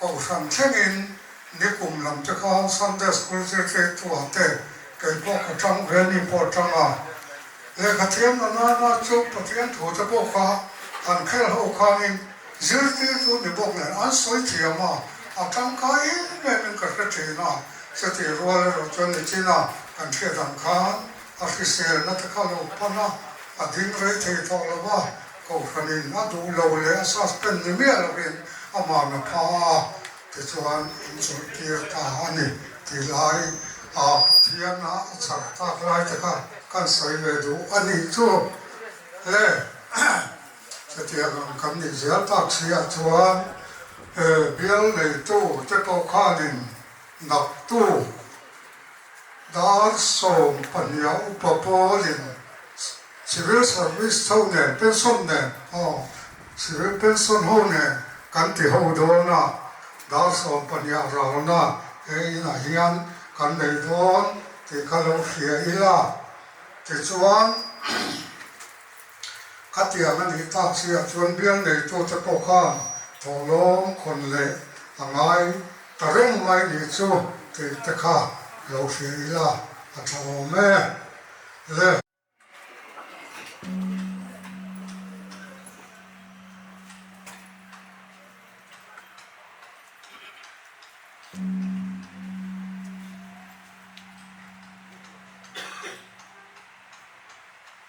Kohhran chengin ni kum lam te khan Sunday School zirtirtuah te kei pawh ka tang ve mi pawh a tang a. Lehkhathiam na nana chu Pathian thu te pawh kha han kher ho khanin zirtirtu ni bawk nen an sawi thiam a, a tangkai em em in ka hre thin a, chutih rual erawh chuan nichina kan hriat ang khan a hriselna te kha lo pan a, a ding rei thei tawh lo va, Ko fanin a duh lo leh a suspend ni miah lohin a man a pha a, tichuan in chawih kir ta a ni tih lai a Pathian a a chhar tak lai te kha kan sawi ve duh a nih chu e chutiang ang kan nih zial tak chiah chuan e bial neitu te pawh khanin dak tu Dar sawm pahniha upa pawl in civil service ho nen, pension nen aw civil pension ho nen kan ti ho dawn a, dar sawm pahniha ralna he in ah hian kan nei dawn tih ka lo hria ila tichuan. a tiang a nih tak chiah chuan bial neitute pawh khan thawhlawm khawn leh a ngai ta reng mai ni chu tih te kha lo hria ila a tha awm e le.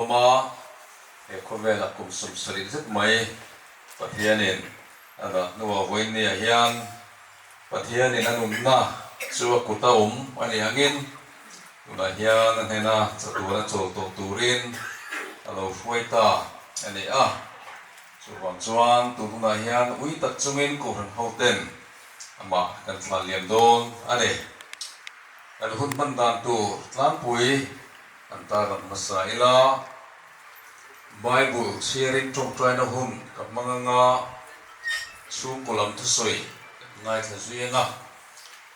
Khawma he khawvel a kum sum saling zet mai. Pathianin a dah hnu a vawiin ni ah hian Pathianin a nunna chu a kut a awm a ni angin, tunah hian a hnena chatuana chawl tawh turin a lo hruai ta a ni a. Chuvang chuan tun hunah hian ui tak chungin Kohhran hoten amah kan thlan liam dawn a ni. Kan hun hman dan tur tlangpui kan tarlan hmasa ila, Bible thiarin tawngtaina hun ka hmang anga chhungkaw lam thusawi kan ngaithla zui anga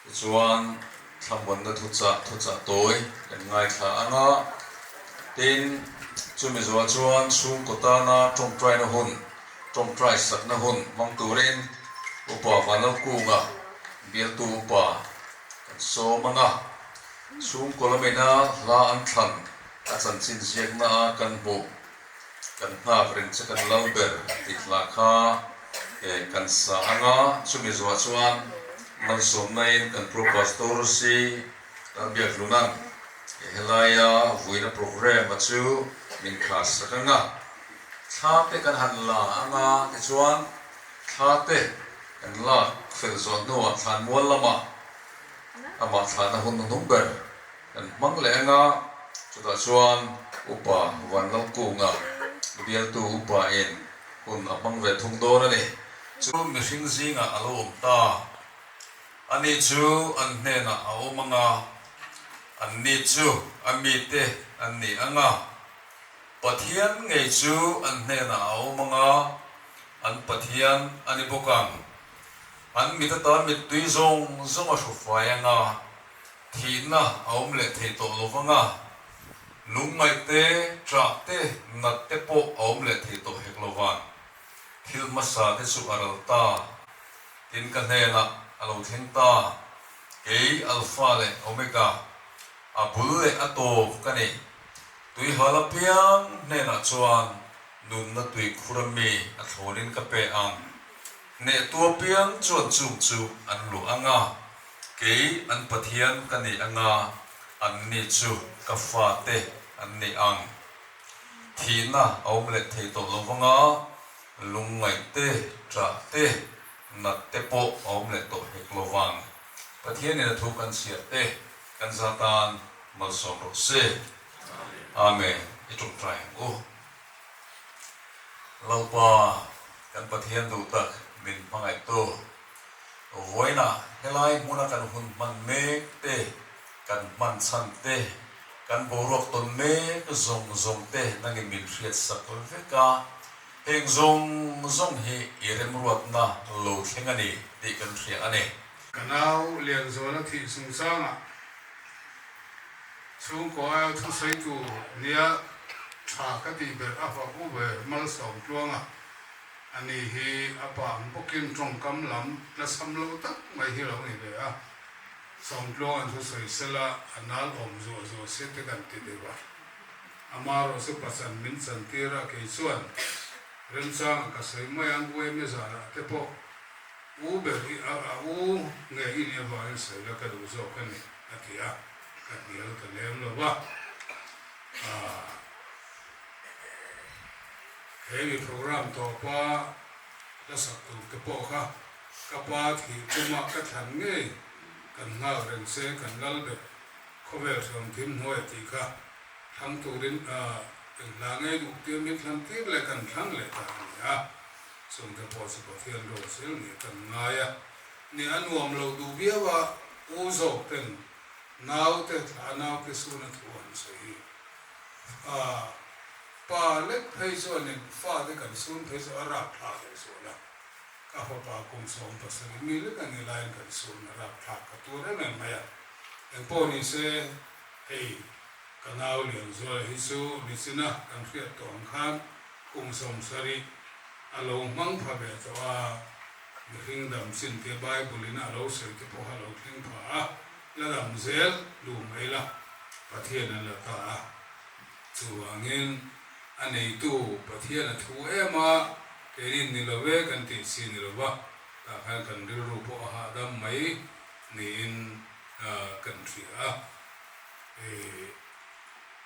Tichuan, thlamuanna thuchah thuchah tawi kan ngaithla ang a, tin, chumi zua chuan chhungkaw tana tawngtaina hun, tawngtaisakna hun hmang turin upa Vanlokunga bialtu upa kan sawm ang a, chhungkaw lamina hla an thlan a chanchin ziakna a kan hmuh. Kan nghak rin che kan lo ber tih hla kha kan sa ang a, chumi zuah chuan man sawmnaiin kan Pro Pastor si a biakhlun ang. Helaia vuina program a chu min khahsak ang a, thla te kan han la ang a tichuan thla te kan lak fel zawh hnuah thlanmual lamah amah thlana hun a hnung ber. Kan hmang leh eng a, chutah chuan upa Vanlalkunga bialtu upa in hun a hmang ve thung dawn a ni. Chu mihring zingah a lo awm ta, ani chu an hnenah a awm ang a, an ni chu a mite an ni ang a, Pathian ngei chu an hnenah a awm ang a, an Pathian a ni bawk ang. An mitata mittui zawng zawng a hru fai ang a. Thihna a awm leh thei tawh lo vang a, lungngaih te, ṭah te, nat te pawh a awm leh thei tawh hek lo van. Thil hmasa te chu a ral ta. Tin ka hnenah a lo thleng ta, Kei Alpha leh Omega, a bul leh a taw ka ni. Tuiha lapiang hnenah chuan nunna tui khura mi a thlawnin ka pe ang. Neh tua piang chuan chung chu an luah a nga, kei an pathian ka ni a nga an ni chu ka fa te an ni ang. Thihna a awm leh thei tawh lo vang a, lungngaih te, ta te, nat te pawh a awm leh tawh hek lo vang. Pathian in a thu kan chhiar te kan za tan malsawm rawh se. Amen. I ṭawngṭai ang u. Lalpa, kan Pathian duh tak min hmangaih tawh. Vawiina helai hmuna kan hun hman mek te, kan hman chhan te, kan boruak tawn mek zawng zawng te nangin min hriat sak vek a, heng zawng zawng hi i remruatna lo thleng a ni tih kan hria a ni. Ka nau Lianzuala thih chungchangah. Chhungkua a thusawi tu nia tha ka tih ber a va bu ve malsawm tluanga a ni hi a pang bawkin tawngkam lam lasam lo tak mai hi lo ni ve a, Sawmtluang an thusawi sela a nal awm zuah zuah se te kan ti ti va. Amarawh chu pachan min chan tir a kei chuan remchanga ka sawi mai ang UME zarah te pawh. U ber hi a a u nge i nia va en saih la ka duh zawk a ni a ti a, ka hnial ka lem lo va aah hemi program tawpa la sak tur te pawh kha ka pa thih tum a ka thlan ngei kan nghal reng se kan lal bet khawvel thiam thim hnuai a tih kha thlang turin aah engtla ngei duh tir min thlan tir leh kan thlang leh ta a ni a. Chungte pawh chu Pathian rual chil nih kan ngai a ni a nuam lo duh viau a, Pu Zawken naute thla nauke suna thu an sawi hi a, Pa lek phei chuanin fate kan sun phei chu a rak thlak leh zual a, ka fapa kum sawm pasarih mi lek a nih laiin kan sun a rak thlak ka tur em em mai a, engpawh ni se hei ka nau lian zuala hi chu nichina kan hriat tawh ang khan Kum Sawmsari a lo hmang pha ve tawh a, mihring dam chin te Bible in a lo sawi te pawh a lo thleng pha a, la dam zel duh mai la, Pathian a la ta a. Chuvangin a neitu Pathian a thu em a, keinin ni lo e kan tih si ni lova, tah khan kan rilru pawh a hahdam mai niin kan hria a. Ih.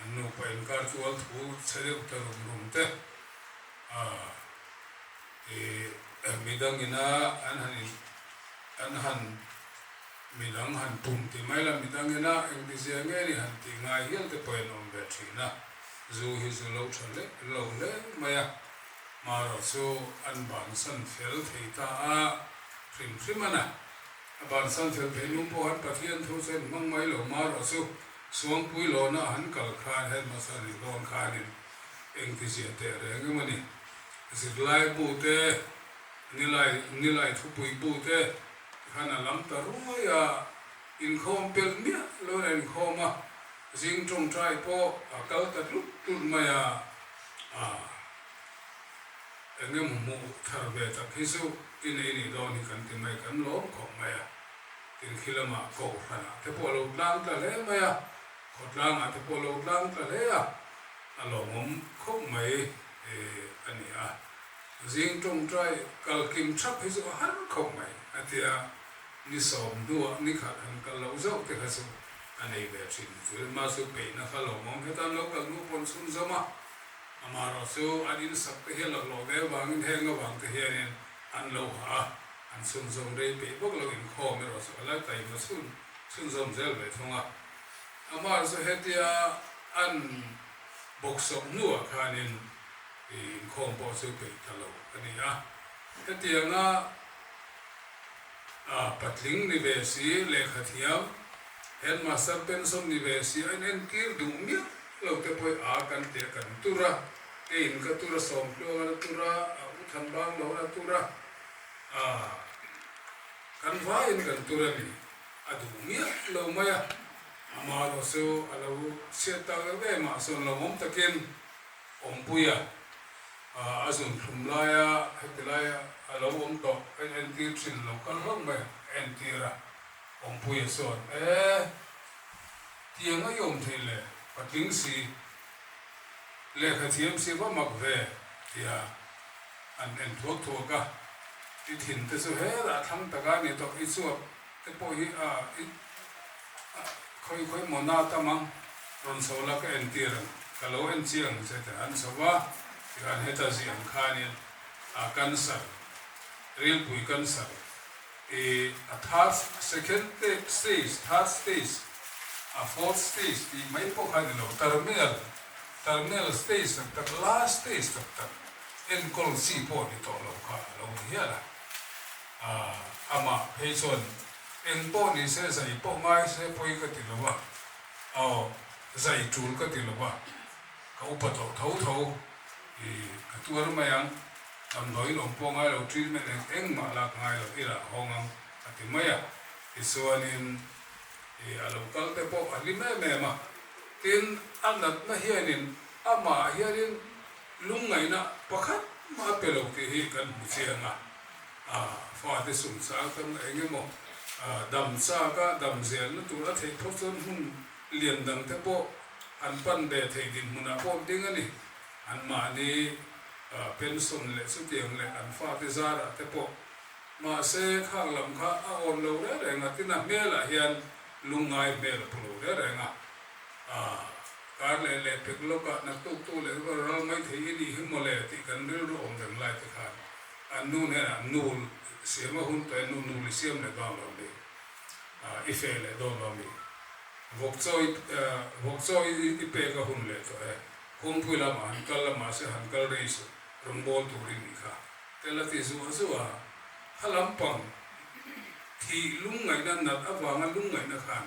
An nupa inkar tual thu chhe deuh te rum rum te ih midang in a an han in an han midang han pum ti mai la midang in a engtizia nge ni han tih ngai hial te pawh in awm ve thin a zu hi zu lo tha hle lo hle mai a marawh chu an bansan fel thei ta a hrim hrim a na a bansan fel theih nung pawh han pathian thu chuan hmang mai lo marawh chu Chhuangpui lawna han kal khan Headmaster nih dawn khanin engtiziah teh reng em a ni. Zirlai bu te, nilai nilai thupui bu te khan a lam ta ruai a, inkhawm per miah loin a inkhawm a, zing tawngtai pawh a kal ta tlut tlut mai a. Aah, eng emaw hmuh thar ve tak hi chu i nei nih dawn hi kan ti mai kan lawm khawp mai a. Kilkhi lama Kohhranah te pawh a lo tlang ta hle mai a, Khawtlangah te pawh a lo tlang ta hle a, a lawmawm khawp mai a ni a, zing tawngtai kalkim thap hi chu a har khawp mai a ti a, ni sawm hnuah ni khat han kal loh zauh te kha chu a nei ve thin. Zulma chu peihna kha lawmawm he tan lo kal hnu pawn chhun zawm a, amaherawhchu an insak te hi a laklawh ve avangin heng avangte hianin an lo hah a, An chhunzawm rei peih bawk lo inkhawm erawh chu a la kai va chhun chhunzawm zel ve thung a. Amah chu hetia an bawksawh hnuah khanin inkhawm pawh chu peih ta lo a ni a. Hetianga patling ni ve si, lehkha thiam, Headmaster pension ni ve si a entir duh miah lo te pawh a kan ti a, kan tur a, keiin ka tur a, Sawmtluangin a tur a, Uthanbang loin a tur a. Aaa. Kan vaiin kan tur a ni. A duh miah lo mai a. Amaherawh chu a lo chhiat tak deuh deuh mah sawn lo awm takin awmpui a aa a zun thlum laia hetilai a lo awm tawh a entir thin lo kal hauh mai a a entir a. Awmpuia chuan, Ee. Tiang a i awm theih le, patling si. Lehkhathiam si va mak ve, tia. an en thuak thuak a, i thin te chu hela a thlang tak a ni tawh, i chuak te pawh hi a i khawi khawi maw na ta mang, rawn chho la ka en tir ang, ka lo en chiang che teh han chho va, tichuan heta ziah ang khanin a cancer, rilpui cancer i a third second stage, third stage, a fourth stage tih mai pawh kha a ni lo, terminal, terminal stage tak tak, last stage tak tak. Enkawl si pawh ni tawh lo kha a lo ni hial a. Aah, amah phei chuan, Eng pawh ni se, zai pawh ngai se pawi ka ti lo va, aw, zai tul ka ti lo va, ka upa tawh tho tho. Ih, ka tuar mai ang, damdawiin awm pawh ngai lo, treatment eng eng mah lak ngai lo, i lah hawng ang, a ti mai a. Tichuanin, ih, a lo kal te pawh a hlim em em a. Tin, a natna hianin amah hianin. Lungngaihna pakhat mah pe lo tih hi kan hmu chiang a, a fate sum chang tam na eng emaw dam chak a dam zel na tur a theih phawt chuan hmun lian dang te pawh an pan ve thei dinhmun ah pawh ding a ni, an mahni pension leh chutiang leh an fate zar ah te pawh mahse khak lam kha a awn lo reng reng a tina hmel ah hian lungngai hmel a pu lo reng reng a. Aa, kar leh leh pek lawkah naktuk tu leh rural ral mai thei i nih hi maw le tih kan rilru awm reng lai te khan an nu hnenah nul siam a hun tawh e, nu nul i siam leh dawn lo mi, aa, i feh leh dawn lo mi, vawk chawi, vawk chawi i pek a hun leh tawh e, kawngpui lamah han kal a mahse han kal rei suh rawngbâwl tur i nih kha tel a ti zuah zuah a, kha lampang thih lungngaihna nalh avanga lungngaihna khan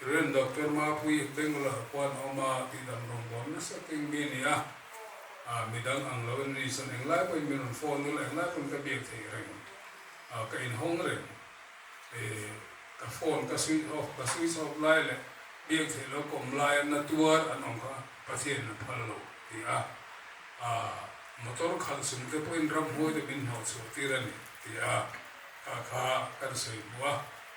Rev. Doctor Mapui Pengula Hakuan a awm a, tih dam rawng buang nasa keng mi a ni a, ah mi dang ang lo in mi chuan eng lai pawhin min rawn phone nula, eng lai pawhin ka biak theih reng, ah ka inhawng reng, eh ka phone ka switch off, ka switch off lai leh biak theih lo kawm lai a na tuar an awm kha Pathian in a phal lo ti a, ah motor khalh chung te pawhin ramhuai te min hnawh chhuah tir a ni ti a, kha kha kan sawi bu a.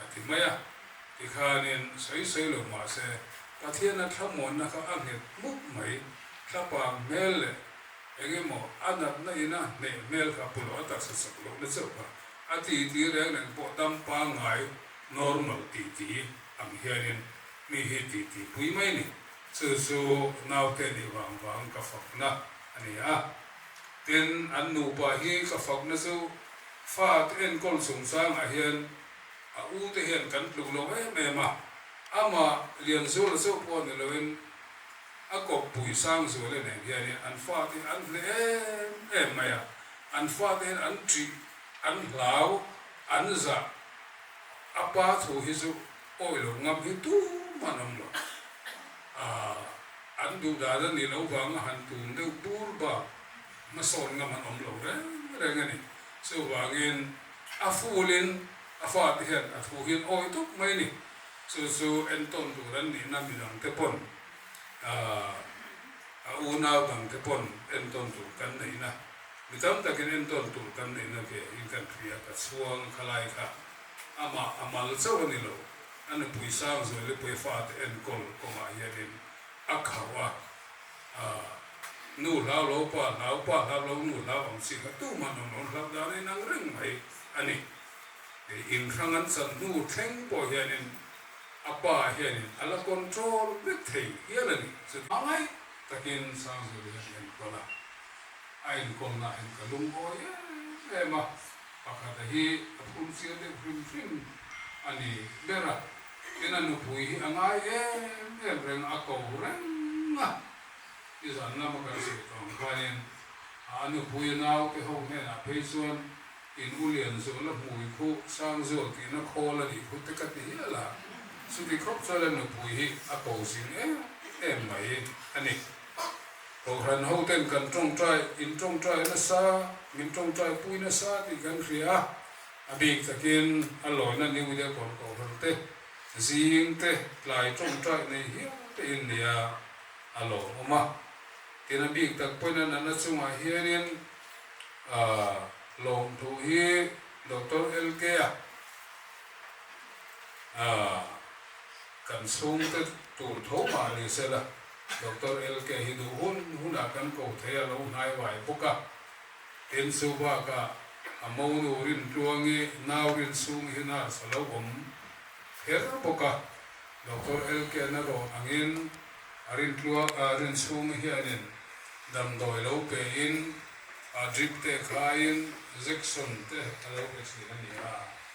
a ti mai a, tikhanin sawi sawi lo mahse Pathiana thlamuanna kha a nghet mup mai, thla pang hmel leh eng emaw a natna ina hneih hmel kha pawlawh a taksa sak loh na chauh kha a titi reng reng pawh dam pangngai normal titi ang hianin mi hi titi pui mai ni chu chu naute nih vang vang ka fakna a ni a. Tin, an nupa hi ka fakna chu fat enkawl chungchangah hian a u te hian kan tluk lo em em a, amah Lianzula chauh pawh a ni loin a kawp pui sang zuala nen hianin an fat hi an hle em em mai a, an fate hian an ṭih, an hlau, an zah, a pa thu hi chu awilo ngam hi tum an awm lo. Aah. An duh dan a nih loh vang a han tun deuh bur bak, hmasawn ngam han awm lo reng reng a ni. Chuvangin a fulin a fate hian a thu hi an awi tawp mai a ni. Chu chu entawn tur an nihna mi dang te pawn, aah, a unau dang te pawn entawn tur kan neihna, mi tam takin entawn tur kan neihna ve in kan hria, ka chhuang khalai kha Amah a mal chauh a ni lo. A nupui Sangzui leh Puifate enkawl kawngah hianin a khauh a, Aah, nu hlau lo, pa hlau, pa hlau lo, nu hlau ang chi kha tu mah nawn nawn hlau dan a inang reng mai a ni. Kei inhrang an chan hnu thleng pawh hianin a pa hianin a la control vek thei hial a ni. Chu hmangaih takin Sangzui hian a enkawl a, a enkawl nahin ka lungawi em em a. Pakhata hi a phum chiar deuh hrim hrim a ni ber a, tin a nupui hi a ngai em em reng a ko reng a. I zan lam a kan sawi tawng hianin a nupui naute ho hnenah phei chuan in ulian zawh la hmui khu sang zawh tihna khawl a nih khu te ka ti hial a, chuti khawp chuan a nupui hi a ko zing em em mai a ni. Kohhran hoten kan tawngtai, in tawngtai nasa, min tawngtai pui nasa tih kan hria a, a bik takin a lawina New Year kawn kohhran te, zing te, tlai tawngtai nei hial te in nia a lawmawm a, tin a bik tak pawhin a nana chungah hianin aah lawm thu hi Doctor LK-a aah Kan chhung te tur tho mah ni se la, Doctor LK hi duh hun hunah kan ko thei a lo hnai uai bawk a. Tin chu bakah a mo nu rin tlua nge nau rin sum hi nurse a lo awm her bawk a. Doctor LK na rawn angin a rin tlua a rin sum hianin damdawi lo pe in a drip te khai in jection te a lo pe thin a ni a.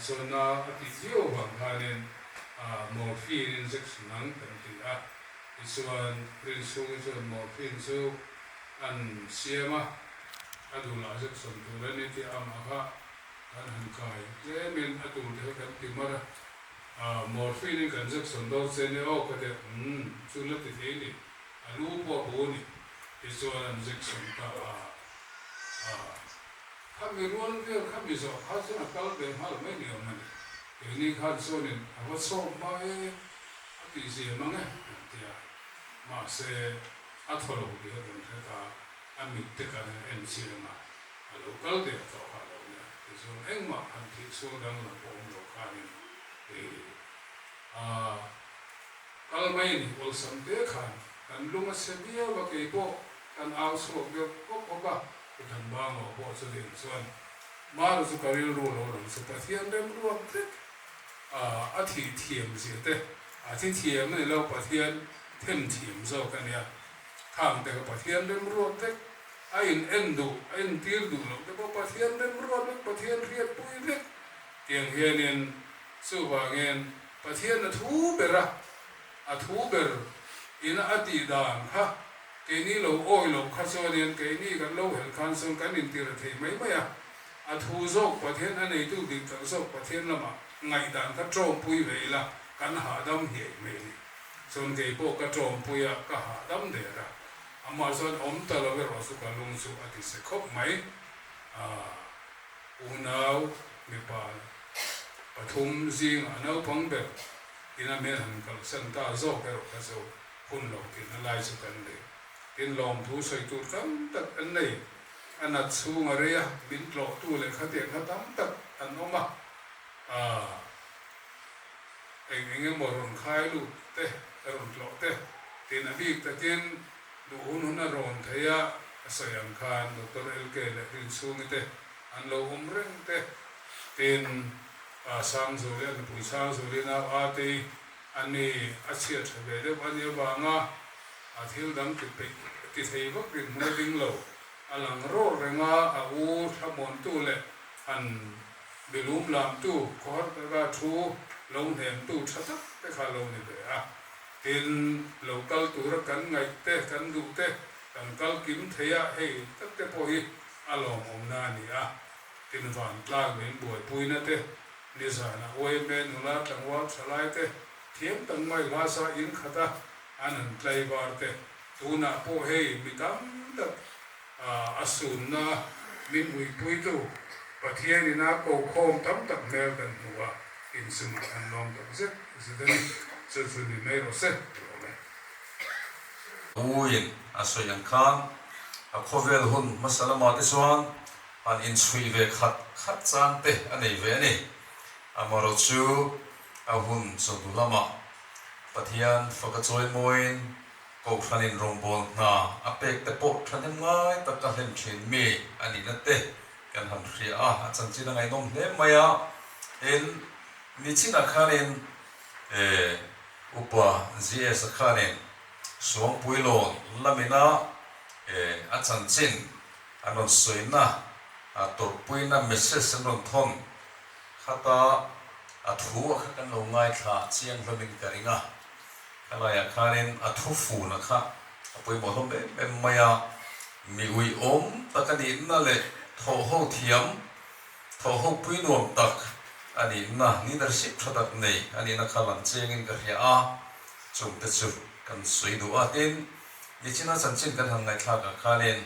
Sawrna a tih viau vang khanin Morphine in Injection ang kan ti a, tichuan Prince chhungin chuan Morphine chu an siam a, a dul ah zet sawn tur a ni tih a mah kha kan han kai tlem in a tur te hi kan ti mar a, Morphine in kan zek sawn dawn se ni aw ka deuh umm chu la ti thei ni, a lu pawh a bu ni, tichuan an zek sawn ta a. Khami rual vel kha mi zawh kha chuan a kal ve nghal mai ni awm a ni. Keini khan chuanin a va chhawk va e, a tih zia mang e a rawn ti a. Mahse, a thaw lo tih a vun hret a, a mit te kan han en chiah ang a, a lo kal deuh tawh kha a lo ni a, tichuan engmah han thih sual dang lo pawh awm lo khanin ih a kal mai a ni. Awlsam te khan kan lung a chhe viau a, kei pawh kan au chhuak deuh hawk hawk a. I kan ma ngawh pawh chu nen chuan Mara chu ka rilru lo lang chu Pathian rem ruat vek a a thih thiam zia te a thi thiam a ni lo Pathian them thiam zawk a nia khang te ka Pathian rem ruat vek a in en duh a in tir duh loh te pawh Pathian rem ruat vek Pathian hriat pui vek tiang hian in chuvangin Pathian a thu ber a A thu ber in a tih dan, Ha, keini lo awi lo kha chuan hian keini kan lo helh khan chuan kan intir thei mai mai a, a thu zawk Pathian, a neitu bik tloh zawk Pathian lamah ngaihdan ka tawmpui ve ila kan hahdam hiai hmel i. Chuan kei pawh ka tawmpui a, ka hahdam der a, amah chuan awm ta lo erawh chu ka lung chu a ti se khawp mai. Aah, unau, mipa pathum zingah naupang ber tin a hmel han kalsan ta zawk erawh kha zo hun lo tirna lai chu kan nei. Tin, lawmthu sawi tur tam tak an nei, a nat chhung a rei a, min tlawhtu leh khatia kha tam tak an awm a, aah eng eng emaw rawn khai lut te, a rawn tlawh te, tin a bik takin duh hun hun a rawn thei a, a sawi ang khan Doctor LK leh Rinchhungite an lo awm reng te, tin. Pa Sangzu leh nupui Sangzu leh nau Ate an ni a chhiat tha ve deuh a ni avang a, a thil dang ti peih ti thei vak din hmun a ding lo, a lang rawr reng a, a u thlamuantu leh han milum lamtu khawhar taka thu lo hnemtu tha tak te kha lo ni ve a, tin lo kal tura kan ngaih te kan duh te kan kalkim theih a hei tak te pawh hi a lawmawmna a ni a. Invantlak min buaipuina te, nizan a uai hme nula tlangval thalai te, thiam tak mai hlasa in khata an han tlaivar te, tunah pawh hei mi tam tak a sunna min uipuitu Pathian ina kokhawm tam tak hmel kan hmu a, inchung a than lawm tak zet zet a ni, chu chu ni mai rawh se tih awm e. Uin a sawi ang kha, a khawvel hun hmasa lamah te chuan An inchhui ve khat khat chang te a nei ve a ni. Amarawh chu a hun chawdu lamah Pathian faka chawi mawiin Kohhranin rawngbawl hna a pek te pawh thahnem ngai taka hlen thin mi a ni na te kan han hria a, a chanchin a ngaihnawm hle mai a. Tin, mi chinah khanin e upa GS-a khanin Suangpuilawn lamin a e a chanchin An rawn sawina, a tawrhpuina message an rawn thawn khat a, a thu a kha kan lo ngaithla chiang hlamin ka ring a, khalaiah khanin a thu fun a kha a pawimawh hlawm em em mai a, mi ui awm tak a nihna leh thawhho thiam, thawhho pui nuam tak a nihna, leadership tha tak nei a nihna kha lam chengin ka hria a, chungte chu kan sawi duh a, tin. Nichin a chan chin kan han ngaihthlak ang khan in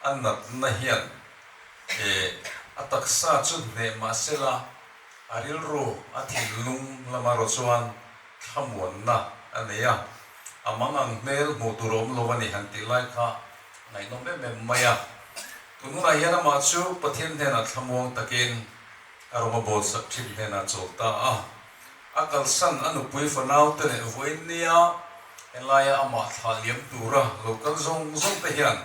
a nat na hian eh a taksa chu hneh mah se la a rilru a thinlung lam erawh chuan thlamuan na a nei a, a mang ang hmel hmuh tur a awm lo a ni han tih lai kha a ngaihnawm em em mai a. Tun hun ah hian amah chu Pathian hnenah thlamuang tak in a rawn a bawlsak thin hnenah chawl ta a. A kalsan a nupui fanaute leh vawiin nia helaia amah thla liam tura lo kal zawng zawng te hian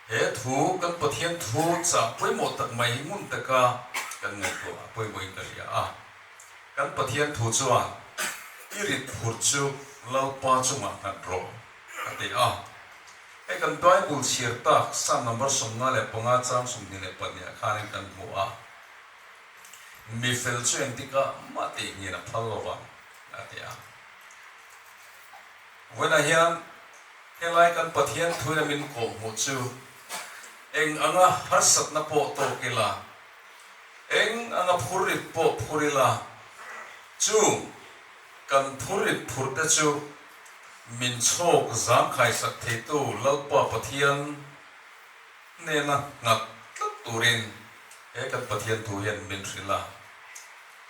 he thu kan Pathian thu chah pawimawh tak mai hi ngun taka kan ngaihtuah a pawimawhin ka hria a. Kan Pathian thu chuan i rit phur chu Lalpa chungah nghat rawh a ti a. Hei kan Bible chhiar tak Psalm number sawmnga leh panga chang sawmhnih leh pahniha khanin kan hmu a. Mi fel chu engtik a, mah teihngin a phal lo va, a ti a. Vawiinah hian helai kan Pathian thuin a min kawh hmuh chu eng anga harsatna pawh tawk ila, eng anga phur rit pawh phur ila, chu kan phur rit phur te chu min chhawk zangkhaisak theitu Lalpa Pathian, Nena ngak tlat turin he kan Pathian thu hian min hrilh a,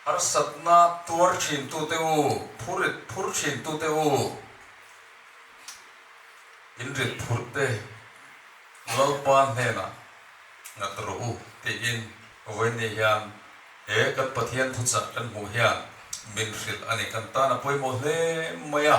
harsatna tuar thintu te u, phu rit phur thintu te u, in rit phur te Lalpa hnenah nghat rawh u tiin Vawinia hian he kan Pathian thu chah kan hmuh hian min hrilh a ni, kan tana pawimawh hle mai a.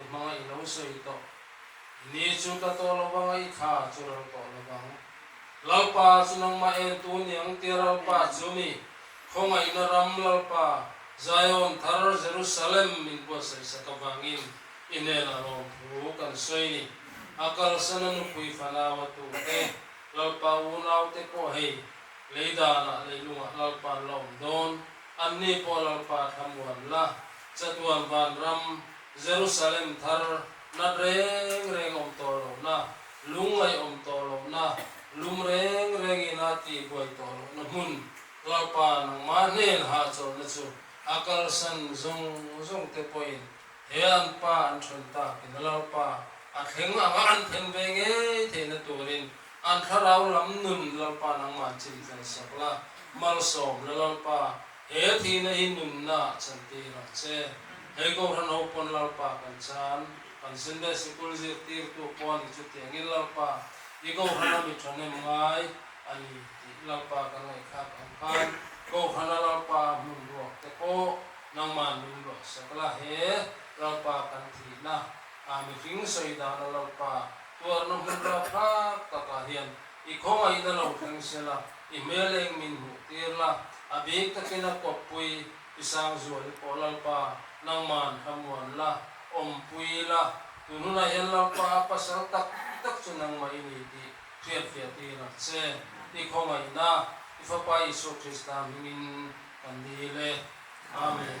I hmanga i lo sawi tawh. I ni chu ka tawh lovanga i tha chu ral tawh lovang. Lalpa chu nangmah en tu niang tia Ralpa chu mi khawngaihna ram Lalpa Zion thar Jerusalem min buatsaih sak avangin i nena rawm thu kan sawi ni. A kalsana nupui fanau a tu te Lalpa unaute pawh hei Lei danah leihlungah Lalpa an la awm dawn. Anni pawh Lalpa a thlam uan la. Chatuan vanram, Jerusalem thar, nat reng reng awm tawh lohna, lungngaih awm tawh lohna, lum reng rengin a ti buai tawh lohna hmun, Lalpa nangmah hnen hahchawlhna chu a kalsan zawng zawng te pawhin he an Pa an ṭhen takin Lalpa a thleng anga an then ve ngei theihna turin An thlarau lam nun Lalpa nangmah chim fel sawk la, malsawm la Lalpa, he thihna hi nunna a chan tih hi rak che. Hei Kohhran ho pawn Lalpa kan chan, kan Sunday Sikul zirtirtu pawn hi chutiangin Lalpa, i Kohhran a mi thahnem ngai a ni tih Lalpa kan ngaihthlak ang khan, Kohhrana Lalpa a hmun ruak te pawh nangmah nun luah sawk la, he Lalpa kan thihna a mi hring sawi dana Lalpa, Tuarna hmun rau hak takah hian i khawngaih na lo thleng se la, i hmeleng min hmuh tir la, a bik takin a kawppui, Pisangzual i pawh Lalpa, nangma an hla muan la, awmpui ila, tunhunah hian Lalpa a pasal tak tak chu nangma i ni tih hriatfiah ti rak che, i khawngaih na, i Fapa Isua Krista hmingin kan dil e. Amen.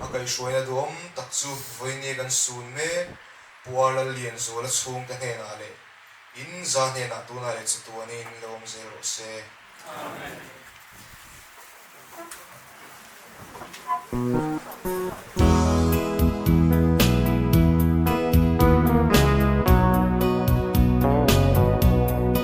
A kaihhruaina duhawm tak chu Vawinia kan sun mek Puar Lal Lianzuala chhungte hnenah leh in zah hnenah tunah leh chatuanin lo awm zel rawh se. Amen.